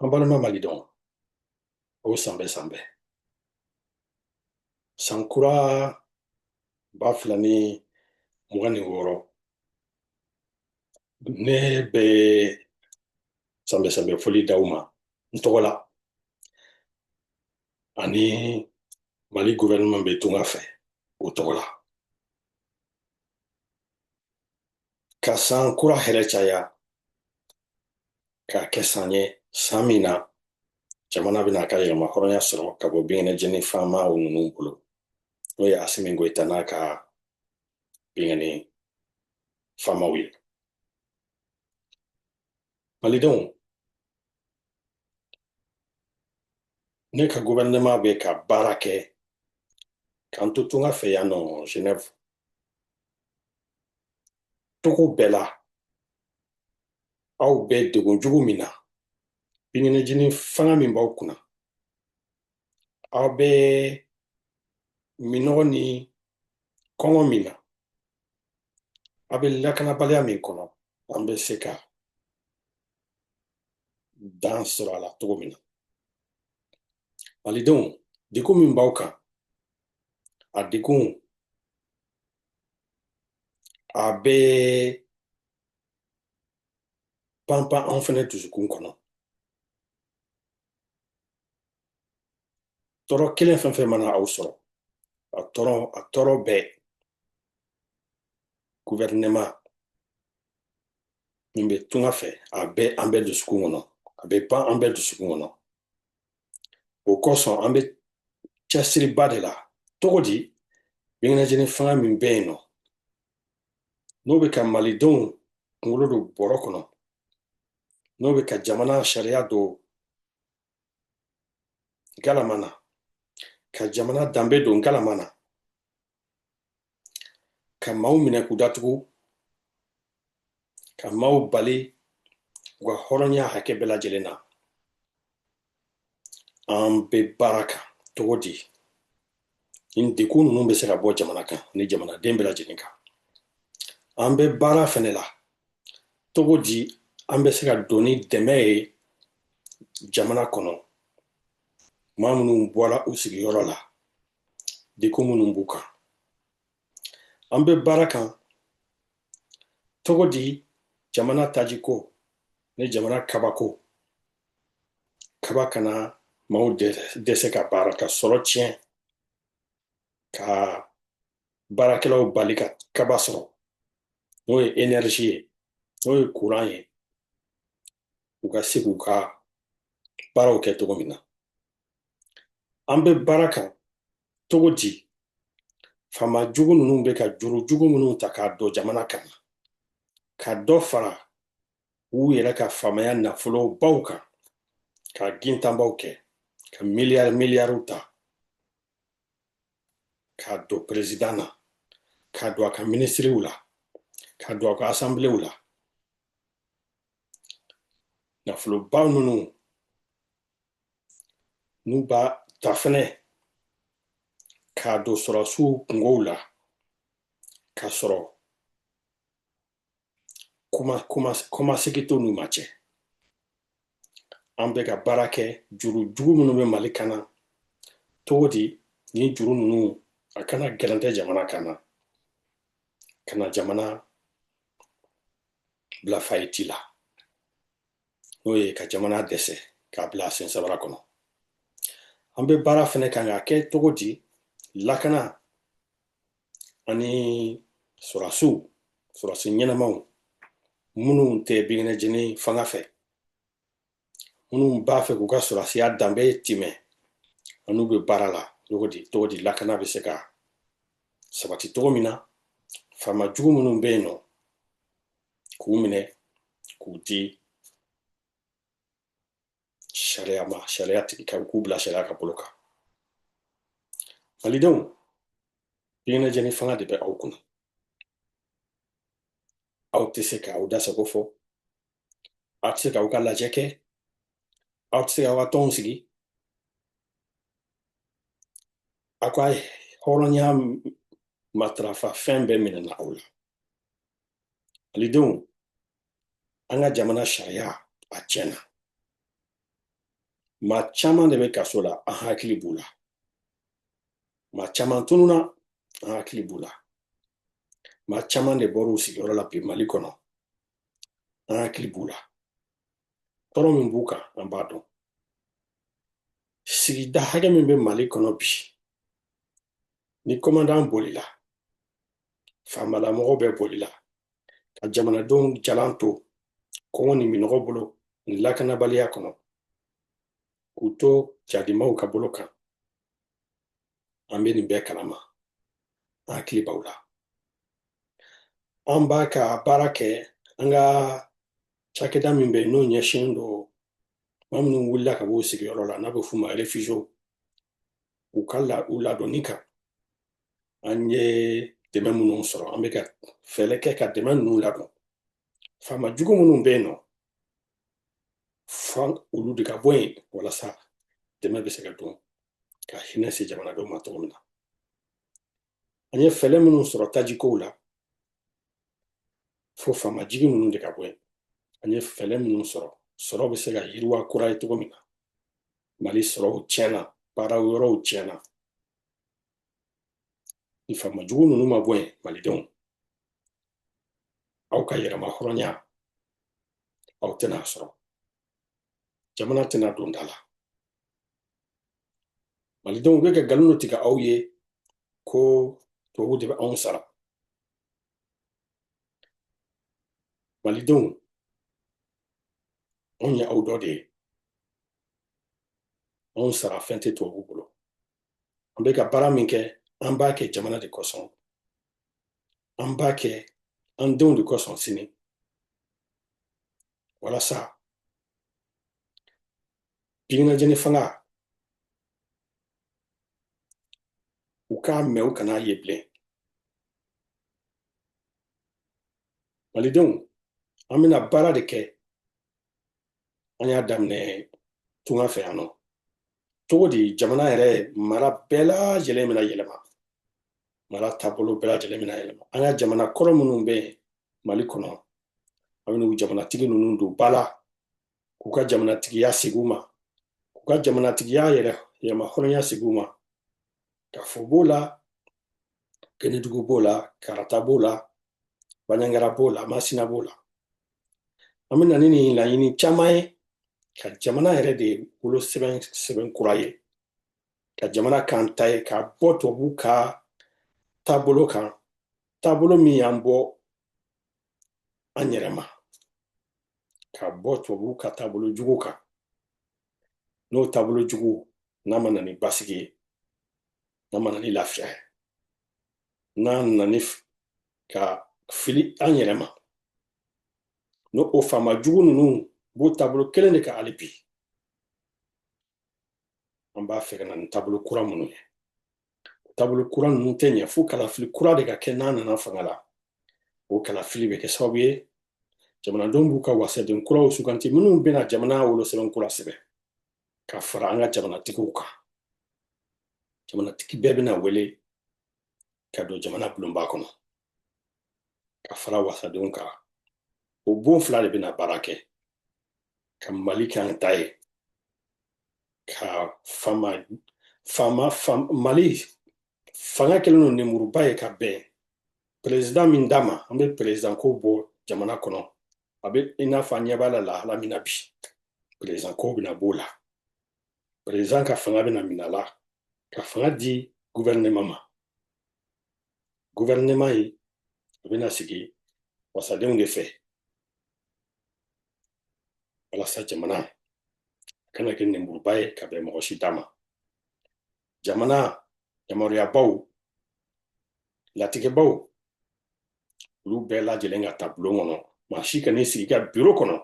An balima malidenw aw san bɛɛ san bɛɛ san kura ba fila ni mugan ni wɔɔrɔ ne bɛ san bɛɛ san bɛɛ foli d'aw ma n tɔgɔ la ani mali gouvernement bɛ tunga fɛ o tɔgɔ la ka san kura hɛrɛ caya k'a kɛ san ye san min na jamana bɛn'a ka yɛrɛmahɔrɔnya sɔrɔ ka bɔ binkɛnɛjeni faama ninnu bolo n'o ye asimi goyita n'a ka binkɛnɛ faamaw ye malidenw ne ka gouvernement bɛ ka baara kɛ k'an to tunga fɛ yan nɔ genève cogo bɛɛ la aw bɛ degun jugu min na binkɛnɛjeni fanga min b'aw kunna aw bɛ minnɔgɔ ni kɔngɔ min na aw bɛ lakanabaliya min kɔnɔ an bɛ se ka dan sɔrɔ a la cogo min na malidenw degun min b'aw kan a degun a bɛ panpan anw fɛnɛ dusukun kɔnɔ tɔɔrɔ kelen fɛn fɛn mana aw sɔrɔ a tɔɔrɔ a tɔɔrɔ bɛɛ guvɛrinɛma min bɛ tunga fɛ a bɛ an bɛɛ dusukun kɔnɔ a bɛ pan an bɛɛ dusukun kɔnɔ o kosɔn an bɛ cɛsiriba de la cogo di binkɛnɛjeni fanga min bɛ yen nɔ n'o bɛ ka malidenw kunkolo don bɔrɔ kɔnɔ n'o bɛ ka jamana sariya don galama na ka jamana danbe don galama na ka maaw minɛ k'u datugu ka maaw bali u ka hɔrɔnya hakɛ bɛɛ lajɛlen na an bɛ baara kan cogo di nin degun ninnu bɛ se ka bɔ jamana kan ani jamanaden bɛɛ lajɛlen kan an bɛ baara fɛnɛ la cogo di an bɛ se ka don ni dɛmɛ ye jamana kɔnɔ maa minnu bɔra u sigiyɔrɔ la degun minnu b'u kan an bɛ baara kan cogo di jamana tajiko ni jamana kabako kaba kana maaw dɛsɛ ka baara ka sɔrɔ tiɲɛ ka baarakɛlaw bali ka kaba sɔrɔ n'o ye enɛrizi ye n'o ye kuran ye u ka se k'u ka baaraw kɛ cogo min na an bɛ baara kan cogo di faama jugu ninnu bɛ ka juru jugu minnu ta k'a don jamana kan na ka dɔ fara u yɛrɛ ka faamaya nafolo baw kan ka gintanbaw kɛ ka miliyari miliyariw ta k'a don perezidan na k'a don a ka minisiriw la k'a don a ka asanbilew la nafoloba ninnu n'u b'a ta fɛnɛ k'a don sɔrɔsiw kunkow la k'a sɔrɔ kɔmasegi to n'u ma cɛ an bɛ ka baara kɛ juru jugu minnu bɛ mali kan na cogo di ni juru ninnu a kana gɛrɛntɛ jamana kan na ka na jamana bila fayiti la n'o ye ka jamana dɛsɛ k'a bila sen sabara kɔnɔ an bɛ baara fɛnɛ kan k'a kɛ cogo di lakana ani sɔrɔdasiw sɔrɔdasi ɲɛnamaw minnu tɛ binkɛnɛjeni fanga fɛ minnu b'a fɛ k'u ka sɔrɔsiya danbe tiimɛ an n'u bɛ baara la cogo di cogo di lakana bɛ se ka sabati cogo min na faama jugu minnu bɛ yen nɔ k'u minɛ k'u di sariya ma sariya tigi ka k'u bila sariya ka bolo kan malidenw binkɛnɛjeni fanga de bɛ aw kunna aw tɛ se ka aw da sago fɔ aw tɛ se k'aw ka lajɛ kɛ aw tɛ se k'aw ka tɔnw sigi aw ka hɔrɔnya matarafa fɛn bɛɛ minɛna aw la malidenw an ka jamana sariya a tiɲɛna maa caman de bɛ kaso la an hakili b'u la maa caman tununa an hakili b'u la maa caman de bɔr'u sigiyɔrɔ la bi mali kɔnɔ an hakili b'u la tɔɔrɔ min b'u kan an b'a dɔn sigida hakɛ min bɛ mali kɔnɔ bi ni kɔmandan bolila faamalamɔgɔw bɛɛ bolila ka jamanadenw jalan to kɔngɔ ni minɔgɔ bolo ni lakanabaliya kɔnɔ k'u to jadimaw ka bolo kan an bɛ nin bɛɛ kalama an hakili b'aw la an bɛ ka baara kɛ an ka cakɛda min bɛ yen n'o ɲɛsinnen don maa minnu wulila ka b'u sigiyɔrɔ la n'a bɛ f'u ma réfugiéw u ka la u ladonni kan an ye dɛmɛ minnu sɔrɔ an bɛ ka fɛɛrɛ kɛ ka dɛmɛ ninnu ladon faama jugu minnu bɛ yen nɔ fo olu de ka bɔ yen walasa dɛmɛ bɛ se ka don ka hinɛ se jamanadenw ma cogo min na an ye fɛɛrɛ minnu sɔrɔ tajikow la fo faama jugu ninnu de ka bɔ yen an ye fɛɛrɛ minnu sɔrɔ sɔrɔ bɛ se ka yiriwa kura ye cogo min na mali sɔrɔw tiɲɛna baara yɔrɔw tiɲɛna ni faama jugu ninnu ma bɔ yen malidenw aw ka yɛrɛmahɔrɔnya aw tɛn'a sɔrɔ jamana tɛna don da la malidenw bɛ ka nkalon dɔ tigɛ aw ye ko tubabu de bɛ anw sara malidenw anw ye aw dɔ de ye anw sara fɛn tɛ tubabu bolo an bɛ ka baara min kɛ an b'a kɛ jamana de kosɔn an b'a kɛ an denw de kosɔn sini walasa biminajeni fanga u k'a mɛn u kan'a ye bilen malidenw an bɛna baara de kɛ an y'a daminɛ tunga fɛ yan nɔ cogo di jamana yɛrɛ mara bɛɛ lajɛlen bɛna yɛlɛma mara taabolo bɛɛ lajɛlen bɛna yɛlɛma an ka jamana kɔrɔ minnu bɛ yen mali kɔnɔ an bɛn'u jamanatigi ninnu don ba la k'u ka jamanatigiya segin u ma k'u ka jamanatigiya yɛrɛmahɔrɔnya segin u ma kafo b'o la kɛnɛdugu b'o la karata b'o la banyangara b'o la masina b'o la an bɛ na ni nin laɲini caman ye ka jamana yɛrɛ de wolosɛbɛn sɛbɛn kura ye ka jamana kan ta ye ka bɔ tubabu ka taabolo kan taabolo min y'an bɔ an yɛrɛ ma ka bɔ tubabu ka taabolo jugu kan n'o taabolo jugu n'a ma na ni basigi ye n'a ma na ni lafiya ye n'a nana ni ka fili an yɛrɛ ma n'o o faama jugu ninnu b'o taabolo kelen de kan hali bi an b'a fɛ ka na ni taabolo kura minnu ye taabolo kura ninnu tɛ ɲɛ fo kalafili kura de ka kɛ n'an nana fanga la o kalafili bɛ kɛ sababu ye jamanadenw b'u ka wasaden kuraw suganti minnu bɛna jamana wolosɛbɛn kura sɛbɛn ka fara an ka jamanatigiw kan jamanatigi bɛɛ bɛna wele ka don jamana bulonba kɔnɔ ka fara wasadenw kan o bon fila de bɛna baara kɛ ka mali kɛ an ta ye ka fama fama mali fanga kɛlen don nemuruba ye ka bɛn perezidan min da ma an bɛ perezidan ko bɔ jamana kɔnɔ a bɛ i n'a fɔ an ɲɛ b'a la lahala min na bi perezidan ko bɛna b'o la perezidan ka fanga bɛna minɛ a la ka fanga di guvɛrinɛma ma guvɛrinɛma ye a bɛna sigi wasadenw de fɛ walasa jamana kana kɛ nemburuba ye ka bɛn mɔgɔ si da ma jamana yamaruyabaw latigɛbaw olu bɛɛ lajɛlen ka taa bulon kɔnɔ maa si kan'i sigi i ka biro kɔnɔ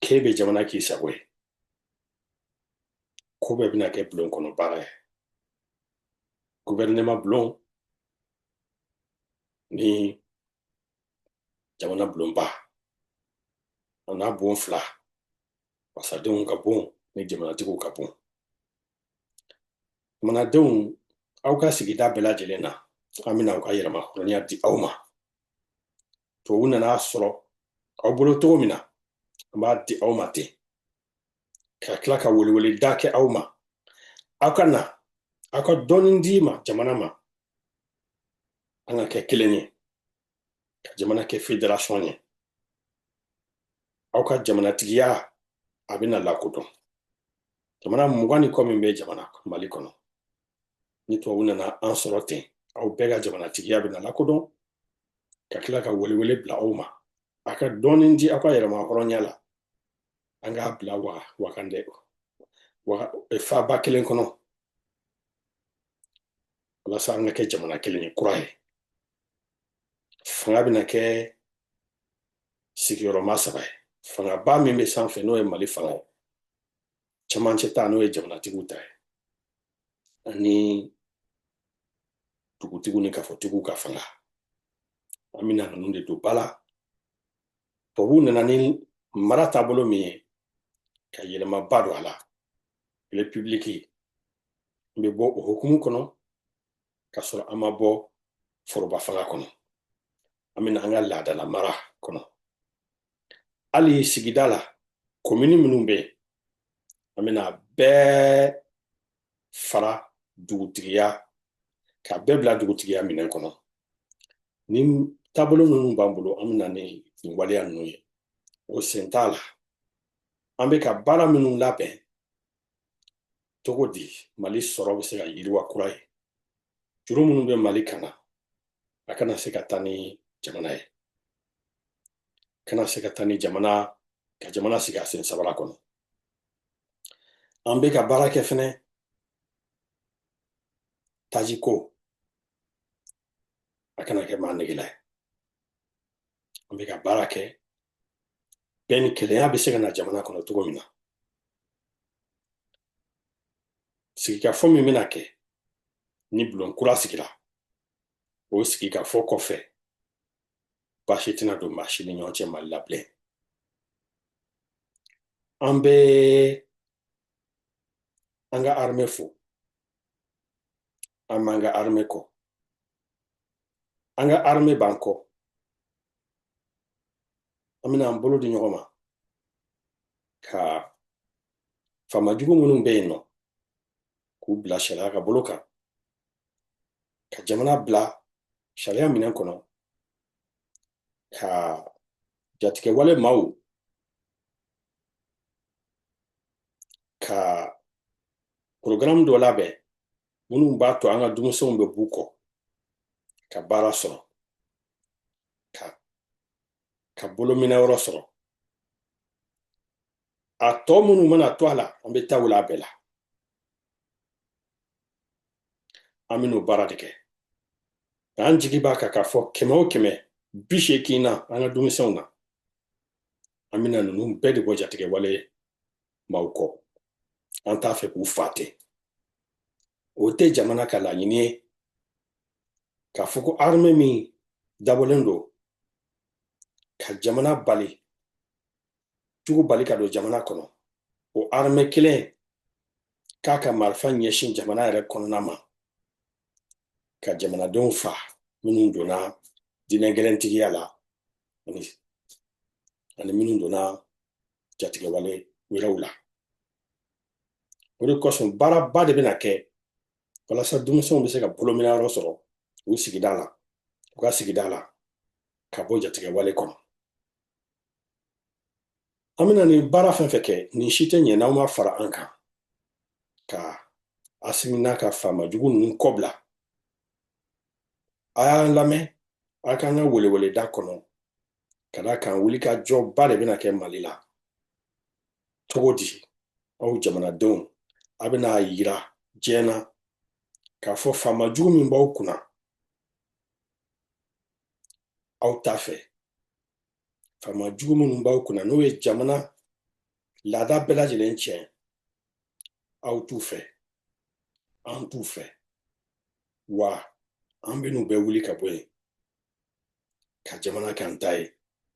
k'e bɛ jamana k'i sago ye ko bɛɛ bɛna kɛ bulon kɔnɔ baara ye guvɛrinɛma bulon ni jamana bulonba o n'a bon fila wasadenw ka bon ni jamanatigiw ka bon jamanadenw aw ka sigida bɛɛ lajɛlen na an bɛna aw ka yɛrɛmahɔrɔnya di aw ma tubabu nana a sɔrɔ aw bolo cogo min na an b'a di aw ma ten ka tila ka weleweleda kɛ aw ma aw ka na aw ka dɔɔni di ma jamana ma an ka kɛ kelen ye ka jamana kɛ federasiyɔn ye aw ka jamanatigiya a bɛna lakodɔn jamana mugan ni kɔ min bɛ jamana mali kɔnɔ ni tubabu nana an sɔrɔ ten aw bɛɛ ka jamanatigiya bɛna lakodɔn ka tila ka welewele bila aw ma a ka dɔɔnin di aw ka yɛrɛmahɔrɔnya la an k'a bila wa wakandɛ wa faba kelen kɔnɔ walasa an ka kɛ jamana kelen ye kura ye fanga bɛna kɛ sigiyɔrɔma saba ye fangaba min bɛ sanfɛ n'o ye mali fanga ye cɛmancɛ ta n'o ye jamanatigiw ta ye ani dugutigiw ni kafotigiw ka fanga an bɛna ninnu de don ba la tubabuw nana ni mara taabolo min ye ka yɛlɛmaba don a la repibiliki n bɛ bɔ o hukumu kɔnɔ ka sɔrɔ an ma bɔ foroba fanga kɔnɔ an bɛna an ka laadala mara kɔnɔ hali sigida la komini minnu bɛ yen an bɛna bɛɛ fara dugutigiya ka bɛɛ bila dugutigiya minɛn kɔnɔ ni taabolo minnu b'an bolo an bɛna ni nin waleya ninnu ye o sen t'a la an bɛ ka baara minnu labɛn cogo di mali sɔrɔ bɛ se ka yiriwa kura ye juru minnu bɛ mali kan na a kana se ka taa ni jamana ye kana se ka taa ni jamana ka jamana sigi a sen sabara kɔnɔ an bɛ ka baara kɛ fɛnɛ taji ko a kana kɛ maa negela ye an bɛ ka baara kɛ bɛn ni kelenya bɛ se ka na jamana kɔnɔ cogo min na sigikafɔ min bɛna kɛ ni bulon kura sigira o sigikafɔ kɔfɛ baasi tɛna don maa si ni ɲɔgɔn cɛ mali la bilen an bɛ an ka armée fo an b'an ka armée kɔ an ka armée b'an kɔ an bɛna an bolo di ɲɔgɔn ma ka faamajugu minnu bɛ yen nɔ k'u bila sariya ka bolo kan ka jamana bila sariya minɛn kɔnɔ ka jatigɛwale maaw ka porogaramu dɔ labɛn minnu b'a to an ka denmisɛnw bɛ b'u kɔ ka baara sɔrɔ ka ka bolominɛ yɔrɔ sɔrɔ a tɔ minnu mana to a la an bɛ taa wula a bɛɛ la an bɛn'o baara de kɛ k'an jigi b'a kan k'a fɔ kɛmɛ o kɛmɛ bi seegin na an ka denmisɛnw na an bɛna ninnu bɛɛ de bɔ jatigɛwale maaw kɔ an t'a fɛ k'u fa ten o tɛ jamana ka laɲini ye k'a fɔ ko armɛ min dabɔlen don ka jamana bali jugu bali ka don jamana kɔnɔ o armɛ kelen k'a ka marifa ɲɛsin jamana yɛrɛ kɔnɔna ma ka jamanadenw fa minnu donna diinɛ gɛlɛntigiya la ani ani minnu donna jatigɛwale wɛrɛw la o de kosɔn baaraba de bɛna kɛ walasa denmisɛnw bɛ se ka bolomina yɔrɔ sɔrɔ u sigida la u ka sigida la ka bɔ jatigɛwale kɔnɔ an bɛna nin baara fɛn fɛn kɛ nin si tɛ ɲɛ n'aw ma fara an kan ka asimina ka faama jugu ninnu kɔbila a y'an lamɛn a k'an ka weleweleda kɔnɔ ka d'a kan wulikajɔba de bɛna kɛ mali la cogo di aw jamanadenw a bɛna a yira diɲɛ na k'a fɔ faama jugu min b'aw kunna aw t'a fɛ faama jugu minnu b'aw kunna n'u ye jamana laada bɛɛ lajɛlen tiɲɛ aw t'u fɛ an t'u fɛ wa an bɛn'u bɛɛ wuli ka bɔ yen ka jamana kɛ an ta ye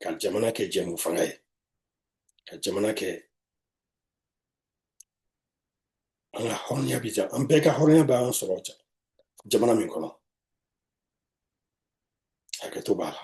ka jamana kɛ jɛmufanga ye ka jamana kɛ an ka hɔrɔnya bɛ an bɛɛ ka hɔrɔnya bɛ an sɔrɔ jamana min kɔnɔ hakɛto b'a la